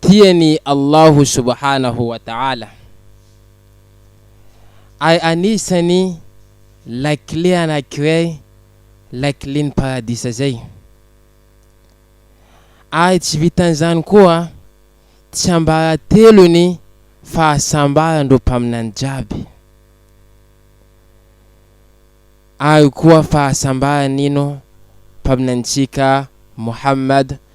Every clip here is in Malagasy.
tian'i Allah subhanahu wa ta'ala, ary anisan'ny lakile anankiray lakilen'ny paradisa izay, ary tsy vitan'izany koa tsiambaratelon'ny fahasambaran'ireo mpaminany jiaby, ary koa fahasambaran'ino? mpaminanintsika Mohamad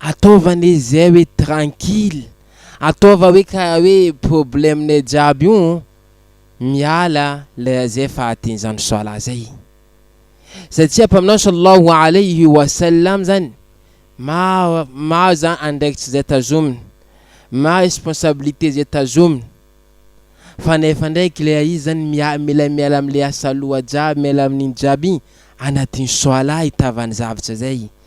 Ataova anie izay hoe tranquille, ataova hoe karaha hoe problème-nay jiaby io miala lera zay fahadian'izany soalah zay. Satria Mpaminany Sallallahu Alayhi wa Sallam zany maro maro zany andraikitry zay tazominy, maro responsabilité zay tazominy, fa nefa ndraiky lera izy zany mia mila miala amle asaloha jiaby miala amin'iny jiaby iny anatin'ny soalah itavany zavatra zay.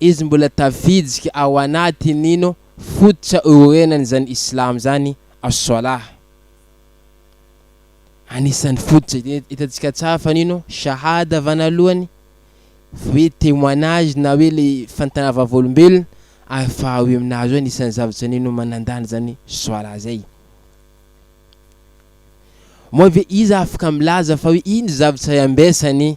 Izy mbola tafiditra ao anatin ino fototra iorenan izany Islam izany As-Salah. Anisan ny fototra hitantsika tsara fa nino Shahada vanalohany, hoe témoignage na hoe le fanontana vavolombelona, ary faharoy aminazy hoe anisan ny zavatra nino manandanja izany Salah izay. Moa ve iza afaka milaza fa hoe iny zavatra iambesany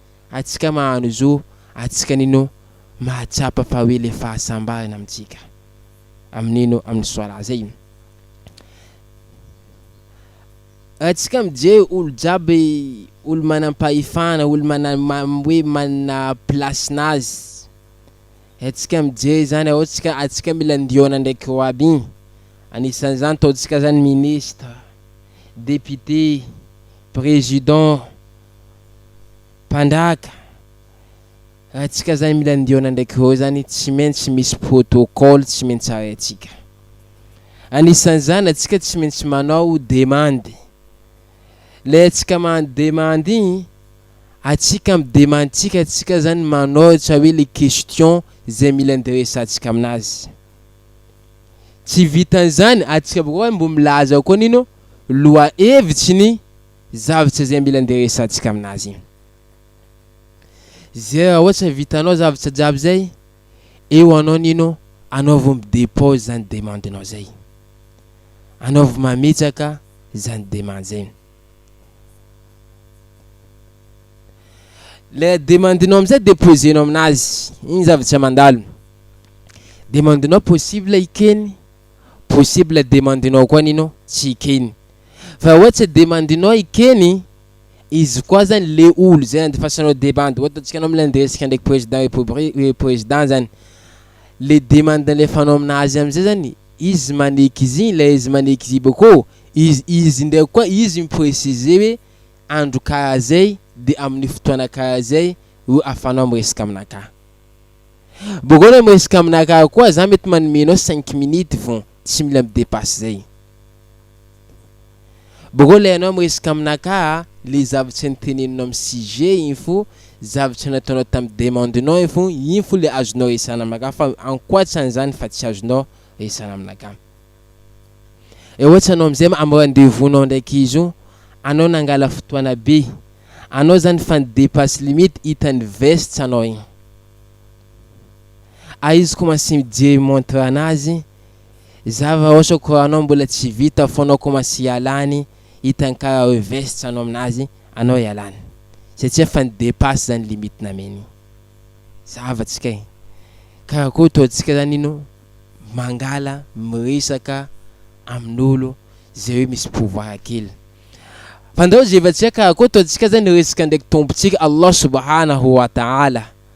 atsika mahano zo atsika nino mahatsapa fa hoe le fahasambarana amintsika amin'ino amin'ny soala zay atsika mijery olo jiaby olo manam-pahefana olo mana hoe manana plasin'azy atsika mijery zany ao tsika atsika mila ndiona ndraiky ro aby igny anisan'izany taontsika zany ministre député président Mpandraka, antsika zany mila ndiona ndraiky hô zany tsy maintsy misy protocole tsy maintsy arahintsika. Anisan'izany antsika tsy maintsy manao demande. Lay antsika mahandro demande igny, antsika am demande tsika antsika zany manao ohatra hoe le question zay mila ndiresantsika aminazy. Tsy vitan'izany antsika bakeo mbo milaza koa nino lohahevitry ny Zavatra izay mila andeha resahantsika amin'azy. Izay raha ohatra vitanao zavatra jiaby izay, eo anao ny ino, anaovy mi-dépose izany demande-nao izay. Anaovy mametraka izany demande izay. Le demande-nao amin'izay déposer-nao amin'azy, iny zavatra mandalo. Demande-nao possible ikeny, possible demande-nao koa ny ino, tsy ikeny. Fa oe tsy demandinao i Kenny, izy koa zany le olo zay nandefasanao demande oe ataontsika anao milay ndresy ka ndreky president repobri president zany le demande nalefanao aminazy amizay zany izy maneky izy igny le izy maneky izy bakeo izy izy ndraiky koa izy mi-preciser oe andro karaha zay de aminy fotoana karaha zay ro afanao miresaka aminakahy. Bakeo anao miresaka aminakahy koa za mety manome anao cinq minutes vao Tsy mila mi-depasse zay. Boko le anao miresaka amina ka a, le zavatra niteneninao am sujet iny fo, zavatra nataonao tam demande nao iny fo, iny fo le azonao resahana aminaka fa ankoatran zany fa tsy azonao resahana aminaka. Eo ohatra anao amzay am rendez vous nao ndraiky izy io, anao nangala fotoana be, anao zany fa ni-depasse limite, hitan'ny veste anao iny. Aiz ko masy mijery montre anazy za va osa koranao mbola tsy vita fonao ko masy ialany hitany kara oe vest anao aminazy anao ialany satria efa ni depasse zany limite nameny za va tsika e karakory to tsika zany ino mangala miresaka aminolo ze oe misy pouvoir kely fandao ze va tsika karakory to tsika zany resaka ndraiky tompo tsika Allah subhanahu wa ta'ala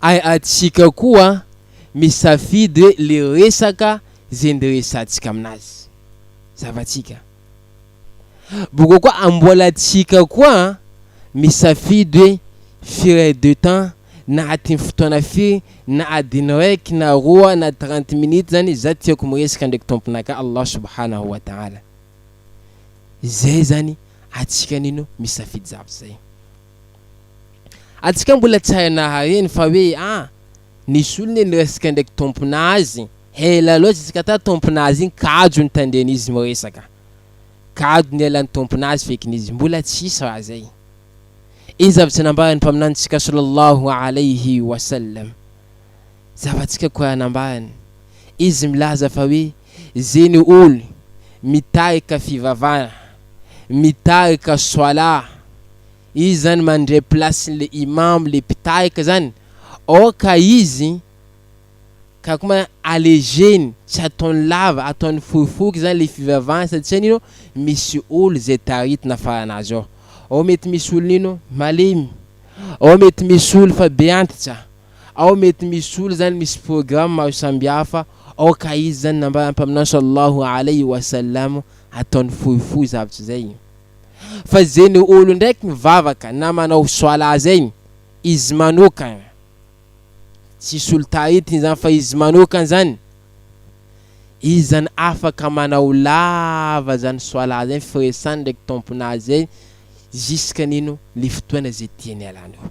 Ary antsika koa misafidy hoe le resaka ze ndiresantsika aminazy. Zavantsika. Boka koa amboalantsika koa misafidy hoe firy heure de temps, na atin'ny fotoana firy, na adiny raiky na roa na trente minutes zany za tiako miresaka ndraiky Tomponakah Allah Subhanahu wa Ta'ala. Zay zany atsika nino misafidy zavatra zay. Antsika mbola tsy hay nahareny fa hoe a! nisy olona niresaka ndraiky tompona azy, hela loatra izy ka tao tompona azy iny kajo nitandreny izy miresaka. Kajo ny ela ny tompona azy feky nizy mbola tsy hisy raha zay. Iny zavatra nambara ny mpaminanitsika Sallallahu Alayhi Wa Sallam. Zava-tsika Koraha nambarany. Izy milaza fa hoe. Ze ny ol mitarika fivavahana mitarika soalah izy zany mandray place le imam le mpitarika zany or ka izy ka ko ma allegeny tsy ataony lava ataony fohifohy zany le fivavahany satsia nino misy ol ze taritina farana azy ao ao mety misy ol nino malemy ao mety misy ol fa be antitra ao mety misy olo zany misy programme maro sambihafa ao ka izy zany nambara ny mpaminany sallallahu alaihi wa sallam ataony fohifohy zavatra zay fa ze ny olo ndraiky mivavaka na manao soalah zay izy manokana tsisy olo taritigny zany fa izy manokana zany izy zany afaka manao lava zany soalah zay firesany ndraiky tomponazy zay ziska nino le fotoana ze tiany ialany eo.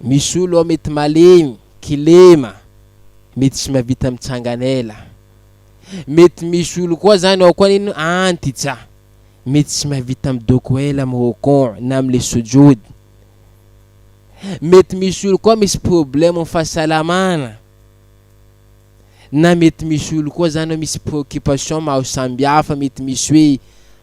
Misy olo ao mety malemy, kilema, mety tsy mahavita mitsangana ela. Mety misy olo koa zany ao koa nino antitsa, mety tsy mahavita midoko ela amin'ny rokon na amin'le sujud. Mety misy olo koa misy problème amin'ny fahasalamana, na mety misy olo koa zany misy préoccupation maro sambihafa, mety misy hoe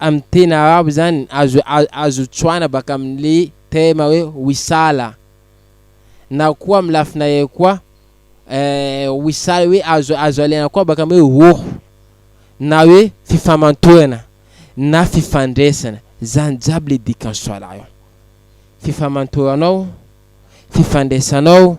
Amin'ny teny arabo izany azo azo tsoahina baka amin'ilay terme hoe wisala na koa amin'ny lafina iray koa wisala hoe azo azo alaina koa baka amin'ny hoe ruh na hoe fifamantorana na fifandraisana, izany jiaby ilay dikan'ny swala io, fifamantoranao, fifandraisanao.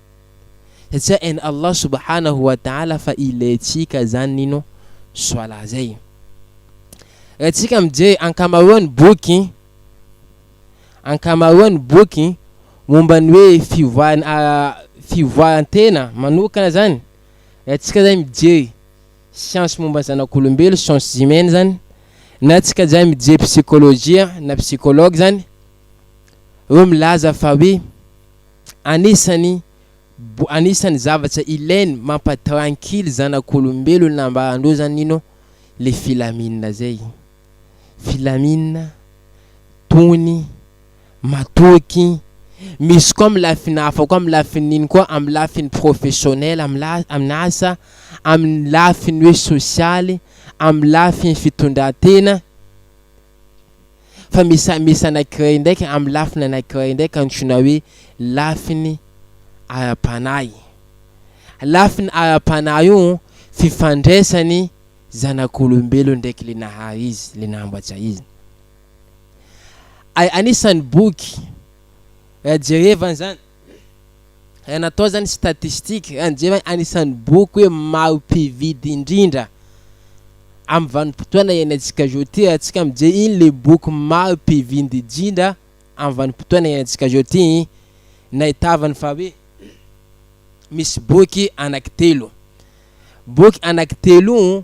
satria hain' Allah subhanahu wa ta'ala fa ilaintsika izany ny ino? Swalah izay. Raha tsika mijery ankamaroan'ny boky, ankamaroan'ny boky momba ny hoe fivoaran' fivoaran-tena manokana izany, raha tsika izay mijery siansy momba ny zanak'olombelo, sciences humaines izany, na tsika izay mijery psikolojia na psychologue izany, ireo milaza fa hoe anisany anisany zavatra ilainy mampa tranquille zanak'olombelona nambarandreo zany ino le filamina zay filamina tony matoky misy koa amin'ny lafiny hafa koa amin'ny lafiny ino koa amin'ny lafiny professionnel amin'ny la amin'ny asa amin'ny lafiny hoe sosialy amin'ny lafiny fitondratena Fa misy misy anankiray ndraika amin'ny lafiny anankiray ndraika antsoina hoe lafiny ara-panahy. Lafiny ara-panahy io fifandraisany zanak'olombelona ndraiky le nahary izy, le nambatsa izy. Ay, anisan'ny boky raha jerevana zany Raha natao zany statistique, raha nijery an anisan'ny boky hoe maro mpividy indrindra amin'ny vanim-potoana iainantsika zao ty, raha tsika mijery iny le boky maro mpividy indrindra amin'ny vanim-potoana iainantsika zao ty iny, nahitavany fa hoe misy boky anaky telo. Boky anaky telo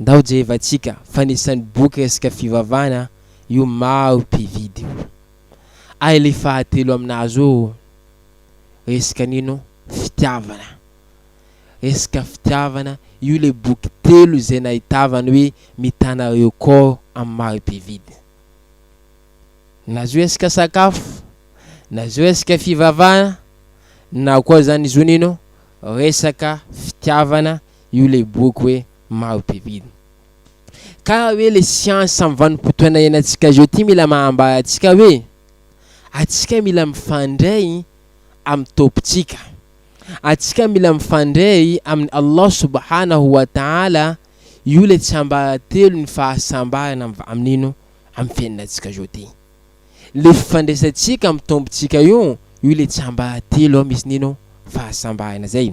ndao jerevantsika fanisany boky resaka fivavahana io maro mpividy io ary le fahatelo aminazy io resaka nino fitiavana resaka fitiavana io le boky telo zay nahitavany hoe mitana record am maro mpividy na zio resaka sakafo na zio resaka fivavahana na koa zany zio nino resaka fitiavana io le boky hoe maha be vina ka hoe le siansa am vanim-potoana ianantsika zao ty mila mahambara antsika hoe atsika mila mifandray am tompon-tsika atsika mila mifandray amin Allah subhanahu wa ta'ala io le tsiambaratelo ny fahasambarana am am nino am fiainantsika zao ty le fifandraisantsika am tompon-tsika io io le tsiambaratelo misy nino fahasambarana zay.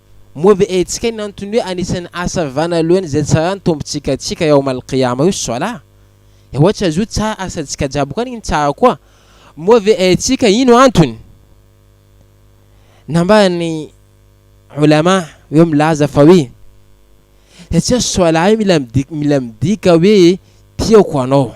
Moa ve hetsika ny antony hoe anisan'ny asa vanaloany izay tsara ny tombontsika antsika Yaum Al Qiyama io Swalah? Dia ohatra izy io tsara asantsika jiaby koa ny tsara koa. Moa ve haintsika ino antony? Nambaran'ny Ulama ireo milaza fa hoe satria Swalah io mila midika hoe tiako anao.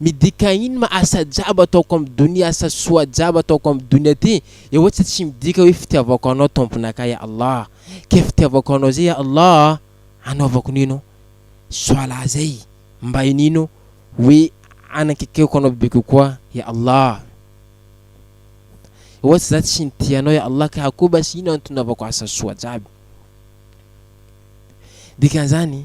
midika ino ma asa jiaby ataoko am donia asa soa jiaby ataoko am donia ty e ohatsa tsy midika hoe fitiavako anao tomponakay ya Allah ke fitiavako anao zay ya Allah a anaovako nino soalah zay mba inino hoe anakekeko anao bebe kokoa ya Allah e ohatsa za tsy nitia anao ya Allah ka akoho basy ino antony naovako asa soa jiaby dikanzany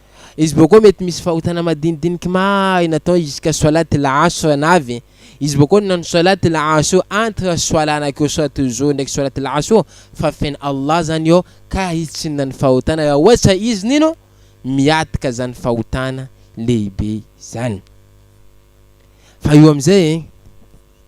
Izy bôkô mety misy fahotana madinidiniky mahay natao izy ka soalat al-asr navy izy bôkô nanao soalat al-asr entre soalat anakireo soalat al-zohr ndraiky soalat al-asr fa feno Allah zany iô ka hitsinona ny fahotana raha ôhatra izy nino miatka zany fahotana lehibe zany fa io amizay e.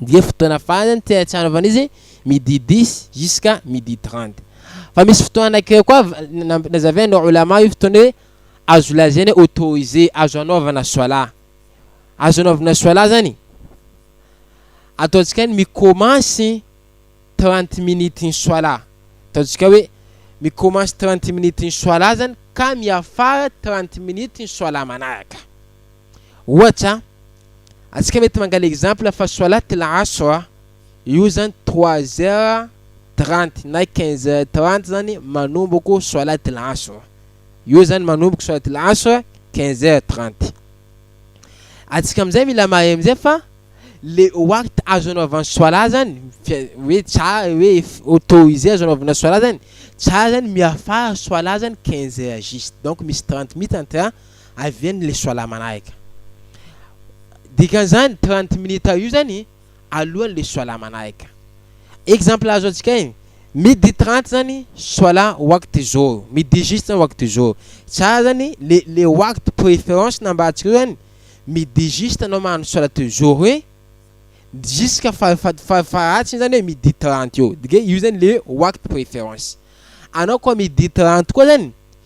dia fotoana farany tsy ahatsiarovana izy midi dix jusqu'à midi trente fa misy fotoana anankiray koa namp- nazaven'ny ulama io fotoana hoe azo lazaina hoe autorisé azo anaovana soala azo anaovana soala zany ataontsika ny mi-commence trente minutes ny soala ataontsika hoe mi-commence trente minutes ny soala zany ka miafara trente minutes ny soala manaraka Ohatra, antsika mety mangala exemple fa soalate la asr a, io zany trois heures trente na quinze heures trente zany manomboko soalate la asr, io zany manomboko soalate la asr quinze heures trente. Antsika amizay mila mahay amizay fa le waqt azo anaovany soala zany hoe ca hoe autorisé azo anaovana soala zany ca zany miafara soala zany quinze heures juste donc misy trente minutes entre Avy any le soala manahaka. Dikan'izany trente minutes io zany alohan'ny le soala manahaka. Exemple azo antsika iny, midi trente zany soala wakty zohr, midi juste zany wakty zohr. Tsara zany le le wakty préférence nambarantsika io zany midi juste anao magnano solat zohr hoe jusqu'à fara fat fara faharatsiny zany hoe midi trente eo. Dika hoe io zany le wakty préférence. Anao koa midi trente koa zany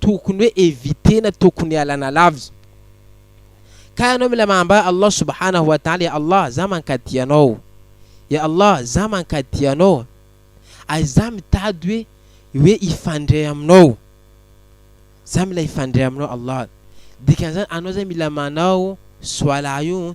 tokony hoe evitena tokony ialana lavitra ka ianao mila manambara Allah subhanahu wa ta'ala ya Allah za mankaty anao ya Allah za mankaty anao ary za mitady hoe hoe hifandray aminao za mila hifandray aminao Allah dikan'izany anao zany mila manao soalah io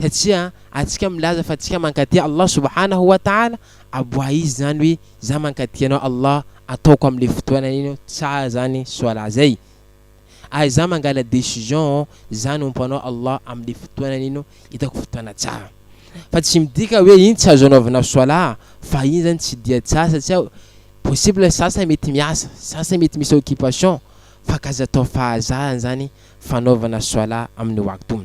satria antsika milaza fa antsika mankatia Allah subhanahu wa ta'ala aboaha izy zany hoe za mankatia anao Allah ataoko amle fotoana iny tsara zany solat zay ary za mangala decision za anompo anao Allah amle fotoana iny hitako fotoana tsara fa tsy midika hoe iny tsy azo anaovana solat fa iny zany tsy dia tsara satria possible sasany mety miasa sasany mety misy occupation fa k'aza atao fahazarany zany fanaovana solat aminy waktu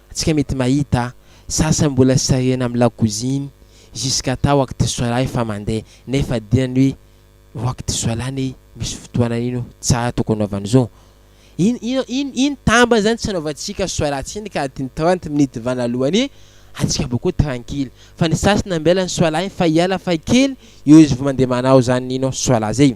Tsika mety mahita sasany mbola sarihina am lakoziny jusqu'à atao waktisolah efa mandeha nefa dinany hoe waktisolah anie misy fotoanany ino tsara tokony anaovana zo in ino ino ino tambany zany tsy anaovantsika solah tsiny ka adiny trente minutes vana alohany atsika mba koa tranquille fa ny sasany ambela ny solah iny fa hiala faha kely eo izy vao mandeha manao zany ino solah zay.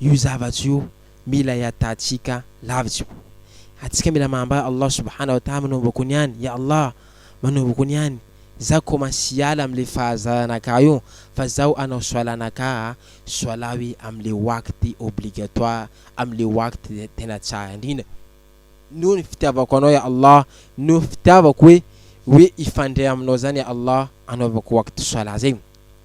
io zavatra io mila iatatsika lavitsy ko atsika mila mambra Allah subhana wa taha manomboko ny any ya Allah manomboko ny any za commence hiala amle fahazarana ka io fa zaho anao soalana ka a soalaho e amle waqt obligatoire amle waqt tena tsara indrindra noho ny fitiavako anao ya Allah noho ny fitiavako hoe hoe hifandray aminao zany ya Allah anaovako waqt soala zegny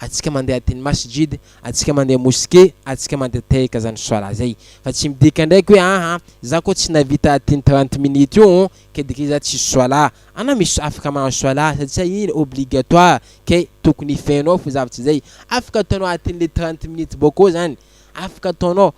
Atsika mandeha adin'ny masjid, atsika mandeha moske, atsika mandeha tehaka zany solat zay. Fa tsy midika ndraiky hoe aa za ko tsy navita adin'ny trente minutes io oo ke dikany za tsisy solat. Anao misy afaka mahazo solat satsia iny obligatoire ke tokony feno ao fa zavatra zay. Afaka ataonao adin'le trente minutes bôkô zany. Afaka ataonao.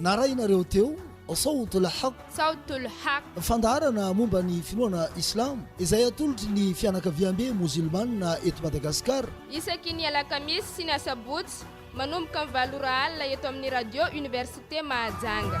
Narahinareo teo Sawt al-Haq, Sawt al-Haq, fandaharana momba ny finoana Islamo izay atolotry ny fianakaviambe mozilmana eto Madagasikara. Isaky ny alakamisy sy ny asabotsy manomboka ny valo ora alina eto amin'ny Radio Université Mahajanga.